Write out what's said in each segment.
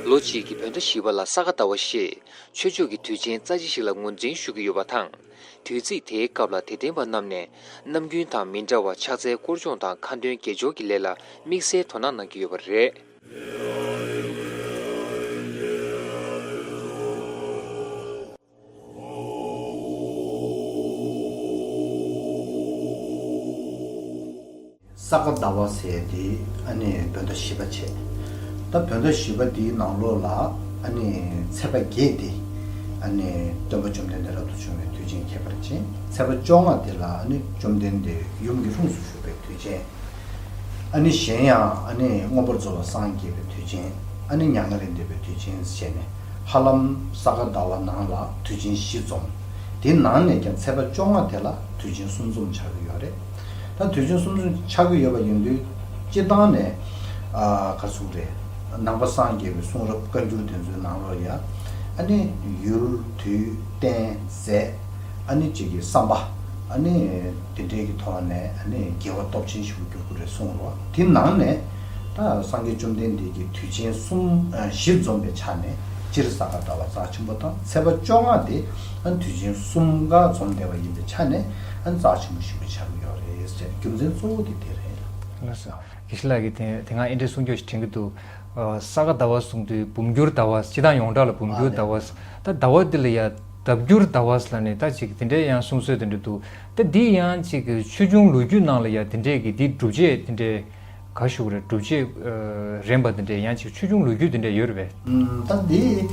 ལོ་གཅིག་གི་བོད་ཟླ་བཞི་བ་ལ་ས་ག་ཟླ་བ་ཞེས་ཆོས་ཕྱོགས་ཀྱི་དུས་ཆེན་རྩ་ཆེ་ཞིག་ལ་ངོས་འཛིན་ཞུ་གི་ཡོད་པ་དང། དུས་ཚིགས་དེའི་སྐབས་ལ་དད་ལྡན་པ་རྣམས་ནས་ནམ་རྒྱུན་དང་མི་འདྲ་བར་ཕྱག་འཚལ་བསྐོར་སྦྱོང་དང་ཁ་འདོན་དགེ་སྦྱོར་གྱི་ལས་ལ་དམིགས་བསལ་དོ་སྣང་གནང་གི་ཡོད་པ་རེད། ས་ག་ཟླ་བ་ཟས་དེ་ཨ་ནེས་བོད་ཟླ་བཞི་པ་བྱས། ད་བོད་ཟླ་བཞི་པ་དེའི་ནང་ལོགས་ལ་ཨ་ནེས་ཚེས་པ་བརྒྱད་དེ་ཨ་ནེས་སྟོན་པ་བཅོམ་ལྡན་འདས་རབ་ཏུ་བྱུང་བའི་དུས་ཆེན་ཁྱད་པར་ཅན་ཚེས་པ་བཅོ་ལྔ་དེ་ལ་ཨ་ནེས་བཅོམ་ལྡན་འདས་ཡུམ་གྱི་ལྷུམས་སུ་ཞུགས་པའི་དུས་ཆེན། ཨ་ནེ་གཞན་ཡང་ཨ་ནེས་དངོས་པོར་རྫོགས་ལ་སངས་རྒྱས་པའི་དུས་ཆེན་ཨ་ནེ་མྱ་ངན་ལས་འདས་པའི་དུས་ཆེན་བྱས་ནས། ཧ་ལམ་ས་ག་ཟླ་བ་ནང་ལ་དུས་ཆེན་བཞི་འཛོམ། དེའི་ནང་ནས་ཀྱང་ཚེས་པ་བཅོ་ལྔ་དེ་ལ་དུས་ཆེན་གསུམ་འཛོམ་ཆགས་ཀྱི་ཡོད་རེད། ད་དུས་ཆེན་གསུམ་འཛོམ་ཆགས་ཀྱི་ཡོད་པ་ཡིན་དུས་སྤྱི་བཏང་ནས་ག་ཚུགས་རེད། ནང་པ་སངས་རྒྱས་པའི་གསུང་རབ་བཀའ་འགྱུར་དེ་ཚོའི་ནང་ལོ་ཡ། ཨ་ནི་ཡུལ་དུས་རྟེན་རྫས། ཨ་ནི་བཅས་ཀྱི་བསམ་པ། ཨ་ནི་དེ་འདྲས་ཀྱི་ཐོག་ནས་ཨ་ནི་རྒྱལ་བ་སྟོབས་ཆེན་ཞིག་ཏུ་འགྱུར་དགོས་རེད་གསུངས་རོགས། དེའི་ནང་ནས། སངས་རྒྱས་བཅོམ་ལྡན་འདས་ཀྱིས་དུས་ཆེན་གསུམ་བཞི་འཛོམས་པའི་ཆ་ནས་སྤྱིར་ས་ག་ཟླ་བ་རྩ་ཆེན་པོ་དང་ཚེས་པ་བཅོ་ལྔ་དེ་དུས་ཆེན་གསུམ་ག་འཛོམས་བསྡད་པ་ཡིན་པའི་ཆ་ནས་རྩ་ཆེན་པོ་བཞི་པའི་ཆ་ནས་ཡོད་རེད་ཟེར་རྒྱུ་མཚན་གཙོ་བོ་དེ་དེ་རེད། དངོས་སུ་ཨི་ཤི་ལགས་ཀྱིས་དེ་སྔ་ཨེ་འདྲའི་གསུང་ཆོས་ཤིག་དྲན་གྱི་འདུག་ས་ག་ཟླ་བ་གསུང་དུས་འབུམ་འགྱུར་ཟླ་བ་སྤྱི་བཏང་ཡོངས་གྲགས་ལ་འབུམ་འགྱུར་ཟླ་བ་ད་ཟླ་བ་འདི་ལ་ཡང་ལྡབ་འགྱུར་ཟླ་བ་ལ་ནི་ད་ཅིག་དེ་འདྲའི་ཡང་གསུང་སྲོལ་དེ་འདྲ་འདུག་ད་འདི་ཡང་ཅིག་ཆོས་འབྱུང་ལོ་རྒྱུས་ནང་ལ་ཡང་དེ་འདྲས་ཀྱི་འདི་སྒྲུབ་བྱེད་དེ་འདྲའི། ག་བཞུགས་རེད་སྒྲུབ་བྱེད་རན་པ་དེ་འདྲས་ཡང་ཅིག་ཆོས་འབྱུང་ལོ་རྒྱུས་དེ་འདྲས་ཡོད་རེད་པས། ད་འདི།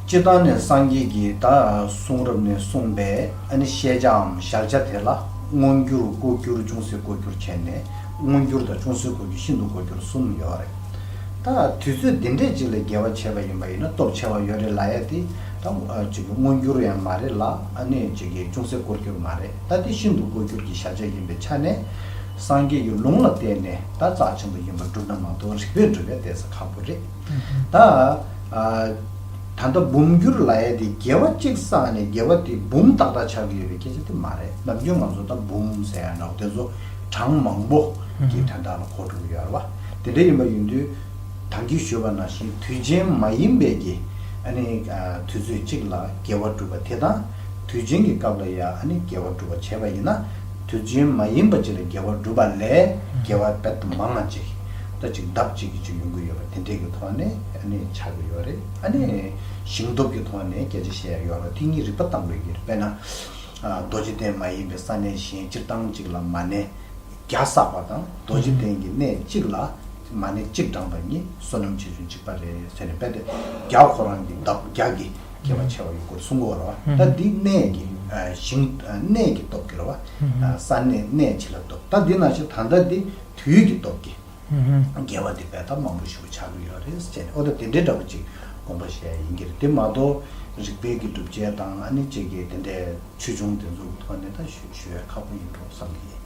སྤྱི་བཏང་ནས་སངས་རྒྱས་ཀྱིས་ད་གསུང་རབ་ནས་གསུངས་པའི་ཨ་ནི་བཤད་བྱའམ་བཞག་བྱ་དེ་ལ་མངོན་འགྱུར་ལྐོག་འགྱུར་ཅུང་ཟད་ལྐོག་འགྱུར་བྱས་ནས་མངོན་འགྱུར་དང་ཅུང་ཟད་ལྐོག་འགྱུར་ཤིན་ཏུ་ལྐོག་འགྱུར་གསུམ་ཡོད་རེད། ད་དུས་ཚོད་འདི་འདྲས་ཅིག་ལ་འགལ་བ་བྱས་པ་ཡིན་པ་ཡིན་ན་སྟོབས་ཆེ་བ་ཡོད་རེད་ལ་ཡ་དེ་ད་མངོན་འགྱུར་ཡང་མ་རེད་ལ་ཨ་ནི་ཅུང་ཟད་ལྐོག་འགྱུར་མ་རེད་ད་འདི་ཤིན་ཏུ་ལྐོག་འགྱུར་གྱི་བཞག་བྱ་ཡིན་པའི་ཆ་ནས། སངས་རྒྱས་ཀྱི་ལུང་ལ་བརྟེན་ནས་ད་རྩ་ཆེན་པོ་ཡིན་པར་བསྒྲུབ་ན་མ་མཐོང་རིག་པས་འགྲུབ་པའི་གཏད་ས་ཁག་པོ་རེད། ད། ད་ལྟ་འབུམ་འགྱུར་ལ་ཡལ་ཏེ་རྒྱལ་བ་གཅིག་བསགས་ནས་རྒྱལ་བ་དེས་འབུམ་ཏག་ཏག་ཆགས་ཀྱི་ཡོད་པའི་སྐད་ཆ་དེ་མ་རེད་ནམ་རྒྱུན་ང་ཚོ་ད་འབུམ་ཟེར་ཡང་འདྲའོ་དེ་ཚོ་གྲངས་མང་པོ་གི་དོན་དག་ལ་གོ་དྲུག་ཡོད་རེད་བ། དེ་འདྲ་ཡིན་པ་ཡིན་དུས། དམ་གྱི་ཞུ་བ་ནང་བཞིན་དུས་ཆེན་མ་ཡིན་པའི་གི་ཨ་ནི་དུས་ཚོད་གཅིག་ལ་རྒྱལ་བ་སྒྲུབ་པ་དེ་དང། དུས་ཆེན་གྱི་སྐབས་ལ་ཡང་ཨ་ནི་རྒྱལ་བ་སྒྲུབ་པ་བྱས་པ་ཡིན་ན། དུས་རྒྱུན་མ་ཡིན་པ་ཅིག་ལ་དགེ་བ་བསྒྲུབ་པ་ལས་དགེ་བ་རྦད་དུ་མང་ང་ཅིག་ལྟ་ཅིག་ལྡབ་གཅིག་གིས་ཅིག་ཡོང་གི་ཡོད་པ་དེ་འདྲས་ཀྱི་ཐོག་ནས་བྱ་དགོས་ཡོད་རེད་ཨ་ནི་ཞིང་སྟོབས་ཀྱི་ཐོག་ནས་སྐད་ཆ་བཤད་ཡག་ཡོད་རེད་དེ་གཉིས་རིག་པ་དང་པོའི་གི་རེད་དཔེར་ན་རྡོ་རྗེ་གདན་མ་ཡིན་པའི་ས་གནས་གཞན་སྤྱིར་བཏང་གཅིག་ལ་མ་གནས་བརྒྱ་བསགས་པ་དང་རྡོ་རྗེ་གདན་གྱི་གནས་གཅིག་ལ་མ་གནས་གཅིག་བགྲངས་པ་གཉིས་བསོད་ནམས་ཆེ་ཆུང་གཅིག་པ་རེད་ཟེར་ནས་རྦད་དེ་བརྒྱ་ཁོ་རང་གིས་ལྡབ་བརྒྱ་གིས། སྐྱེ་བ་བྱེ་བ་ཡོད་དགུར་གསུངས་གོ། ར་བ་ད་འདི་གནས་ཀྱི་ཞིང། གནས་ཀྱི་སྟོབས་ཀྱིས་ར་བ། ས་གནས་གནས་བྱེད་ལ་སྟོབས་ད་འདི་ན་ཞེས་ད་ལྟ་འདི་དུས་ཀྱི་སྟོབས་ཀྱིས། རྒྱལ་བ་འདི་བས་ད་མང་པོ་ཞུ་བ་བྱ་གི་ཡོད་རེད་ཟེར་ནས་ཨོ་ད་དེ་འདྲའི་འདྲ་པོ་ཅིག་དགོངས་པ་བཞེས་ཡིན་གྱི་རེད་དེ་མ་གཏོགས་རིག་པའི་གི་སྒྲུབ་བྱེད་དང་ཨ་ནི་ཅེས་ཀྱི་དེ་འདྲའི་ཆོས་འབྱུང་དེ་ཚོ་གི་ཐོག་ནས་ད་ཞུ་ཞུ་བས་ཁག་པོ་ཡིན་འགྲོ་བསམ་གྱི་ཡིན།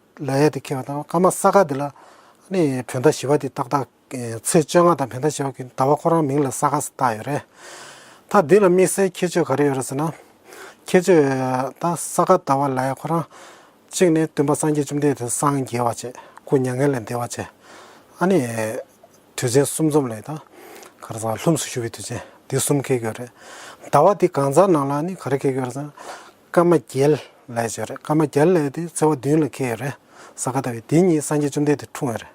ལ་ཡ་དེ་ཁེལ་བ་དང་སྐར་མ་ས་ག་དེ་ལ་ནི་བོད་ཟླ་བཞི་བ་དེ་ཏག་ཏག་ཚེས་བཅོ་ལྔ་དང་བོད་ཟླ་བཞི་བ་གི་ཟླ་བ་ཁོ་རང་མིང་ལ་ས་ག་ཟེར་བཏགས་ཡོད་རེད། ད་འདི་ལ་དམིགས་བསལ་ཁྱད་ཆོས་ག་རེ་ཡོད་རེད་ཟེར་ན། ཁྱད་ཆོས་ད་ས་ག་ཟླ་བ་ལ་ཡ་ཁོ་རང། གཅིག་ནི་སྟོན་པ་སངས་རྒྱས་བཅོམ་ལྡན་འདས་སངས་རྒྱས་བ་བྱེད་སྐུ་མྱ་ངན་ལས་འདས་བ་བྱེད། ཨ་ནི་དུས་ཆེན་གསུམ་འཛོམས་ལས་ད་ག་རེ་ཟེར་བ་ལྷུམས་སུ་ཞུ་བའི་དུས་ཆེན་འདི་གསུམ་ཁེལ་གྱི་ཡོད་རེད། ཟླ་བ་འདི་གང་ཟག་ནང་ལ་ནི་ག་རེ་ཁེལ་གྱི་ཡོད་རེད་ཟེར་ན། ཀརྨ་རྒྱལ་ལས་བྱས་རེད་ཀརྨ་རྒྱལ་ལས་དེ་ཚེ་བ་བདུན་ལ་ཁེལ་ཡོད་རེད་ས་ག་ལྟ་བུའི་དེ་གཉིས་སངས་རྒྱས་བཅོམ་ལྡན་དུ་འཁྲུངས་ཡོད་རེད།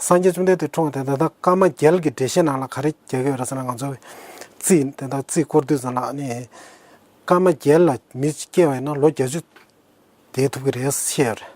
སངས་རྒྱས་བཅོམ་ལྡན་དུ་འཁྲུངས་ཏེ་དེ་དག་ཀརྨ་རྒྱལ་གྱི་འགྲེལ་བཤད་ནང་ལ་ག་རེ་རྒྱག་གི་ཡོད་རེད་ཟེར་ན་ང་ཚོ་རྩིས་དེ་དག་རྩིས་བསྐོར་དུས་ཙམ་ལ་ནི། ཀརྨ་རྒྱལ་ལ་མི་སྐྱེ་བ་ཡིན་ན་ལོ་བརྒྱ་བཅུ་འདས་ཐུབ་ཀྱི་རེད་བཤད་ཡོད་རེད།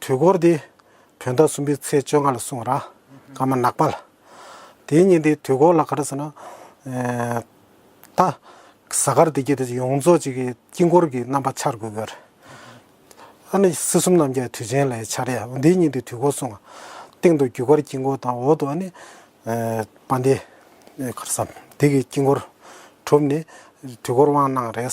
དུས་འཁོར་འདི་བོད་ཟླ་གསུམ་པའི་ཚེས་བཅོ་ལྔ་ལ་སྲུང་ར་ཀ་མ་ནག་པ་ལ། དེའི་ཉིན་དེའི་དུས་འཁོར་ལ་ག་རེ་ཟེར་ན། ད་གཟའ་སྐར་དེ་རྒྱུད་དེ་ཡོངས་རྫོགས་ཅིག་གི་དཀྱིལ་འཁོར་གྱི་རྣམ་པ་འཆར་དགོས་གི་རེད། ཨ་ནི་སྲིད་གསུམ་རྣམ་རྒྱལ་དུས་ཆེན་ལའི་འཆར་ཡ་འདིའི་ཉིན་དེའི་དུས་འཁོར་སྲུང་བ། སྟེང་དུ་རྒྱུ་སྐར་དཀྱིལ་འཁོར་དང་འོག་ཏུ་ཨ་ནི། པ་འདི། ག་རེ་བསམ་འདི་གི་དཀྱིལ་འཁོར་གྲུབ་ནས་དུས་འཁོར་དབང་གནང་རེད།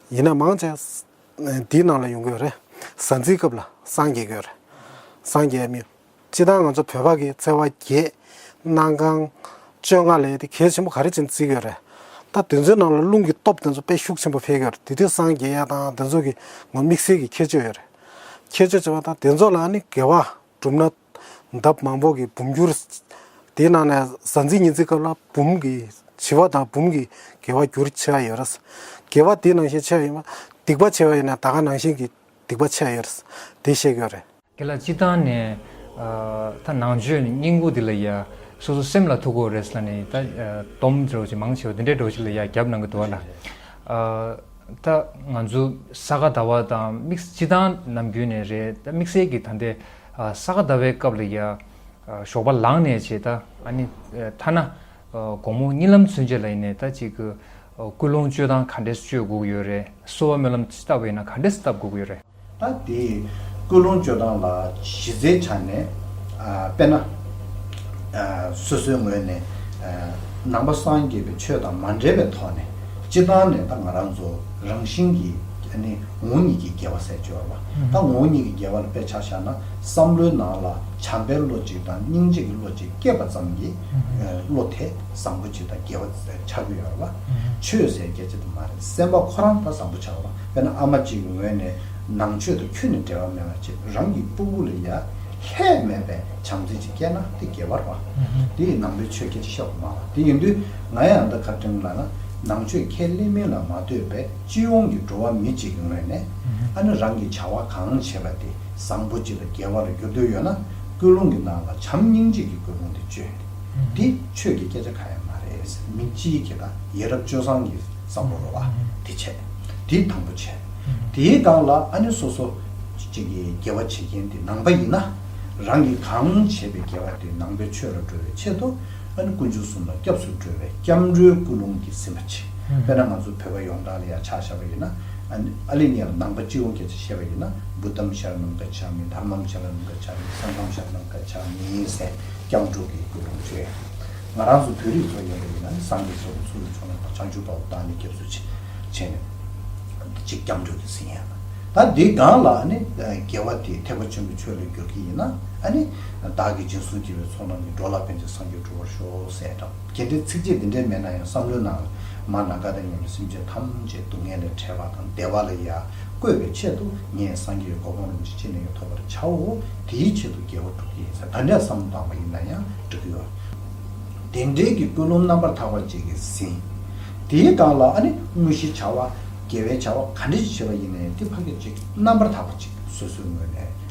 ཡིན་ན་མང་ཆེ། འདིའི་ནང་ལ་ཡོང་གི་ཡོད་རེད། གཟའ་འཛིན་སྐབས་ལ་སངས་རྒྱས་གི་ཡོད་རེད། སངས་རྒྱས་མིན། སྤྱི་དང་ང་ཚོ་བོད་པ་གི་བརྩེ་བ་རྒྱས། གནང་གང། སྤྱོད་གང་ལས་དེ་གལ་ཆེན་པོ་ག་རེ་བྱེད་བརྩི་གི་ཡོད་རེད། ད་དེ་ཚོའི་ནང་ལ་རླུང་གི་སྟོབས་དེ་ཚོ་དཔེ་ཤུགས་ཆེན་པོ་འཕེལ་གི་ཡོད་རེད་དེ་དུས་སངས་རྒྱས་དང་དེ་ཚོ་གི་ངོ་དམིགས་བསལ་གི་ཁྱད་ཆོས་ཡོད་རེད། ཁྱད་ཆོས་བྱེད་པ་དང་དེ་ཚོ་ལ་ནི་དགེ་བ་བསྒྲུབ་ན། འདབ་མང་པོ་གི་བུམ་འགྱུར། དེའི་ནང་ནས་གཟའ་འཛིན་ཉི་འཛིན་སྐབས་ལ་བུམ་གྱི་བྱི་བ་དང་བུམ་གྱི་རྒྱལ་བ་འགྱུར་ཆེ་བ་ཡོད་རེད། རྒྱལ་བ་དེའི་ནང་བཞིན་ཆེ་བ་ཡིན་པ། སྡིག་པ་ཆེ་བ་ཡིན་ན་ད་གའ་ནང་བཞིན་གྱི་སྡིག་པ་ཆེ་བ་ཡོད་རེད། དེ་བཤད་དགོས་རེད། དེ་ལ་སྤྱི་བཏང་ནས། ད་ནང་ཆོས་ནི་སྙིང་པོ་དེ་ལ་ཡ། སོ་སོ་སེམས་ལ་ཐུག་གོ་རེད་ལ་ནི་ད། སྡོམ་སྒྲོག་བྱེད་མང་ཆེ་བ་འདི་འདྲའི་སྒྲོག་བྱེད་ལ་ཡ་རྒྱབ་ནང་གི་དུ་བ་ལ། ད་ང་ཚོ་ས་ག་ཟླ་བ་དང་དམིགས་སྤྱི་བཏང་ནམ་རྒྱུན་ནས་རེད་ད་དམིགས་བསལ་གྱི་ད་ལྟའི། ས་ག་ཟླ་བའི་སྐབས་ལ་ཡང་ཞོགས་པ་ལངས་ནས་བྱེད། ཐ་ན་དགོང་མོ་གཉིད་ལམ་ཚུན་ཆད་ལ་ཡིན་ནས་ད་ཅིག་སྐུལ་སློང་སྤྱོད་སྟངས་ག་འདྲས་སྤྱོད་དགོས་ཀྱི་ཡོད་རེད། གསོལ་བ་སྨོན་ལམ་ཅི་ལྟ་བུ་ཡིན་ན་ག་འདྲས་བཏབ་དགོས་ཀྱི་ཡོད་རེད། ད་དེ་སྐུལ་སློང་སྤྱོད་སྟངས་ལ་གཞི་རྩའི་ཆ་ནས་དཔེར་ན། སོ་སོའི་ངོས་ནས་ནང་པ་སངས་རྒྱས་པའི་ཆོས་དང་མ་འབྲེལ་བའི་ཐོག་ནས་སྤྱི་བཏང་ནས་ད་ང་རང་ཚོ་རང་བཞིན་གྱིས་ངོ་གཉིས་ཀྱི་རྒྱལ་བ་སྲས་སྤྱོར་བ། ད་ངོ་གཉིས་ཀྱི་འགལ་བ་ལ་དཔེ་ཆ་བཞག་ན་བསམ་བློའི་ནང་ལ་བྱམས་པའི་བློ་གཅིག་དང་སྙིང་རྗེ་གི་བློ་གཅིག་སྐྱེས་པ་ཙམ་གྱིས་བློ་དེ་བཟང་པོ་གཅིག་དང་འགལ་བ་ཆགས་ཀྱི་ཡོད་ལ། ཆོས་ཟེར་རྒྱ་ཆེ་དུ་མ་རེད་སེམས་པ་ཁོ་རང་ད་བཟང་པོ་ཆགས་པ་དཔེར་ན་ཨ་མ་གཅིག་གི་ངོས་ནས་ནང་ཆོས་དང་ཁྱོད་ནི་འབྲེལ་བ་མེད་པ་ཅེས་རང་གི་སྤུ་གུ་ལ་ཡ་ཧད་མེད་པའི་བྱམས་བརྩེ་ཅིག་སྐྱེས་ན་དེ་འགལ་བ་རེད། དེ་ཡིས་ནང་པའི་ཆོས་སྐད་ཅིག་ཤོག་གི་མ་ལགས་དེ་ཡིན་དུས་ང་ཡང་ད་ཁ་བཀྲིན་ལ་ན་ནང་ཆོས་ཁས་ལེན་མིན་ལ་མ་ལྟོས་པའི། སྤྱི་ཡོངས་ཀྱི་འགྲོ་བ་མི་གཅིག་ངོས་ནས་ཨ་ནེ་རང་གིས་བྱ་བ་གང་བྱེད་པ་དེ་བཟང་པོ་གཅིག་ལ་རྒྱལ་བ་ལ་འགྱུར་འདོད་ཡོད་ན་སྐུལ་སློང་གི་ནང་ལ་བྱམས་སྙིང་རྗེ་གི་སྐུལ་སློང་དེ་བཅོས། འདི་ཆོས་ཀྱི་སྐད་ཆ་ག་ཡང་མ་རེད། མི་སྤྱིའི་གི་དང་ཡེ་རབ་སྤྱོད་བཟང་གི་བསམ་བློ་རོ་བ་དེ་བྱས། དེ་དང་པོ་བྱས། དེའི་སྒང་ལ་ཨ་ནེ་སོ་སོ་གཅིག་གི་རྒྱལ་བ་བྱེད་མཁན་དེ་ནང་པ་ཡིན་ན་རང་གིས་གང་བྱེད་པའི་རྒྱལ་བ་དེ་ནང་པའི་ཆོས་ལ་འགྲོ་བའི་ཆེད་དུ་ཨ་ནི་དཀོན་མཆོག་གསུམ་ལ་སྐྱབས་སུ་འགྲོ་བའི་སྐྱབས་འགྲོའི་སྐུ་རླུང་གིས་ཟིན་པ་ཆེ། དཔེར་ན་ང་ཚོ་བོད་པ་ཡོངས་གྲགས་ལ་ཡང་ཕྱག་བྱ་བ་ཡིན་ན། ཨ་ནི་ཨ་ལས་ངེད་ལ་ནང་པ་སྤྱི་བོ་འགེ་ཚེ་བཤད་པ་ཡིན་ན་བུ་དམ་བཞག་ནམ་མཁའ་ཕྱག་མིན་དར་མམ་བྱ་ལ་ནམ་མཁའ་ཕྱག་མིན་ས་མཚམས་བཞག་ནམ་མཁའ་ཕྱག་མིན་ཡིན་ཟེར་སྐྱབས་འགྲོ་གི་སྐུ་རླུང་ཆེ། ང་རང་ཚོ་བོད་རིགས་ཚོ་ཡིན་པ་ཡིན་ན་ནི་སངས་རྒྱས་སོགས་ཀྱི་ཚུལ་དུ་བྱུང་ན་ད་བྱང་ཆུབ་པ་བོ་དག་ནི་སྐྱབས་སུ་ཆེ་ནི། འདི་གཅིག་སྐྱབས་འགྲོ་གི་ཟིན་ཡང། ད་འདི་སྒང་ལ་ཨ་ནི་རྒྱལ་བ་དེ་ཐེག་པ་ཆེན་པོའི་ཆོས་ལ་འགྱུར་གྱི་ཡིན་ན་ཨ་ནི། བདག་གིས་རྗེས་སུ་སྐྱེ་བའི་ཚོགས་རྣམས་ཀྱི་འགྲོ་ལ་ཕན་བྱེད་སངས་རྒྱས་གྲུབ་པར་ཤོག་ཟེར་ཡ་འདྲ། གལ་ཏེ་ཚིགས་བཅད་འདི་འདྲའི་མེད་ན་ཡང་བསམ་བློའི་ནང་ལ་མར་ནག་དགའ་ལྡན་ཉམས་པའི་སེམས་ཅན་ཐམས་ཅད་སྡུག་བསྔལ་ལས་བྲལ་བ་དང་བདེ་བ་ལ་ཡ་བཀོད་པའི་ཆེད་དུ་ངས་སངས་རྒྱས་ཀྱི་གོ་འཕང་རིན་པོ་ཆེ་ཅི་ནས་ཀྱང་ཐོབ་པར་བྱའོ། དེའི་ཆེད་དུ་རྒྱལ་བ་སྒྲུབ་ཀྱི་ཡིན་ཟེར་ད་འདྲའི་བསམ་བློ་བཏང་བ་ཡིན་ན་ཡང་འགྲིག་གི་ཡོད། དེ་འབྲེལ་གྱི་ཀུན་སློང་རྣམ་པར་དག་པ་བཅས་ཀྱི་ཟིན། དེའི་སྒང་ལ་ཨ་ནི་དངོས་གཞིའི་བྱ་བ། དགེ་བའི་བྱ་བ་ག་འདྲ་ཞིག་བྱེད་པ་ཡིན་ན་ཡང་དེ་ཕ་སྐད་ཅིག་རྣམ་པར་དག་པ་ཅིག་སོ་སོའི་ངོས་ནས།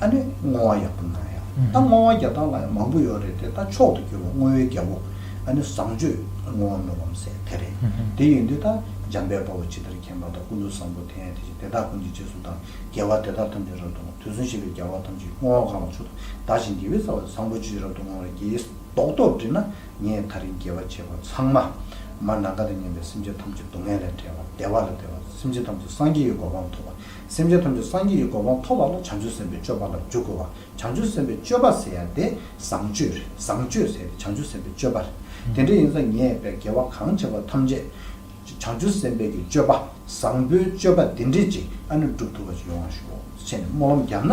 ཨ་ནི་བསྔོ་བ་ཡག་པོ་གནང་ཡ། ད་བསྔོ་བ་རྒྱ་སྟངས་ལ་ཡང་མང་པོ་ཡོད་རེད་དེ་ད་མཆོག་ཏུ་གྱུར་པ་བསྔོ་བའི་རྒྱལ་པོ་ཨ་ནི་བཟང་སྤྱོད་བསྔོ་བ་མི་ལོམ་སེ་དེ་རེད་དེ་ཡིན་དུས་ད་འཇམ་དཔལ་དཔའ་བོ་ཇི་ལྟར་མཁྱེན་པ་དང་ཀུན་ཏུ་བཟང་པོ་དེ་ཡང་དེ་བཞིན་དེ་དག་ཀུན་གྱི་རྗེས་སུ་དང་རྒྱལ་བ་དེ་དག་ཐམས་ཅད་རབ་ཏུ་བསྔོ་དུས་སུན་ཞེས་པའི་རྒྱལ་བ་ཐམས་ཅད་ཀྱི་བསྔོ་བ་གང་ལ་མཆོག་ཏུ་དག་ཅིང་དགེ་བའི་རྩ་བ་བཟང་པོ་ཅི་རབ་ཏུ་བསྔོ་བ་རེད་ཀྱིས་རྟོགས་རྟོགས་བྲིས་ན་ངས་ད་རིང་དགེ་བ་བྱས་པ་ཚང་མ་མར་ནག་འགའ་དང་ཉམས་པའི་སེམས་ཅན་ཐམས་ཅད་སྡུག་བསྔལ་ལས་བསྒྲལ་བ་བདེ་བ་ལ་བདེ་བ་སེམས་ཅན་ཐམས་ཅད་སངས་རྒྱས་ཀྱི་གོ་འཕང་ཐོབ་པ། སེམས་ཅན་ཐམས་ཅད་སངས་རྒྱས་ཀྱི་གོ་འཕང་ཐོབ་པ་ལ་བྱང་ཆུབ་སེམས་དཔའི་སྤྱོད་པ་ལ་འཇུག་དགོས་པ་བྱང་ཆུབ་སེམས་དཔའི་སྤྱོད་པ་ཟེར་ཡང་དེ་བཟང་སྤྱོད་རེད་བཟང་སྤྱོད་ཟེར་ཡང་དེ་བྱང་ཆུབ་སེམས་དཔའི་སྤྱོད་པ་རེད་དེ་འདྲ་ཡིན་ཙང་ངས་བས་དགེ་བ་གང་བྱས་པ་ཐམས་ཅད་བྱང་ཆུབ་སེམས་དཔའི་གྱི་སྤྱོད་པ་བཟང་པོའི་སྤྱོད་པ་འདི་འདྲས་ཅིག་ཨ་ནུས་བསྒྲུབ་ཐུབ་པ་ཅིག་ཡོང་བར་ཞུ་འོ་ཞེས་ནས་སྨོན་ལམ་བརྒྱབ་ན།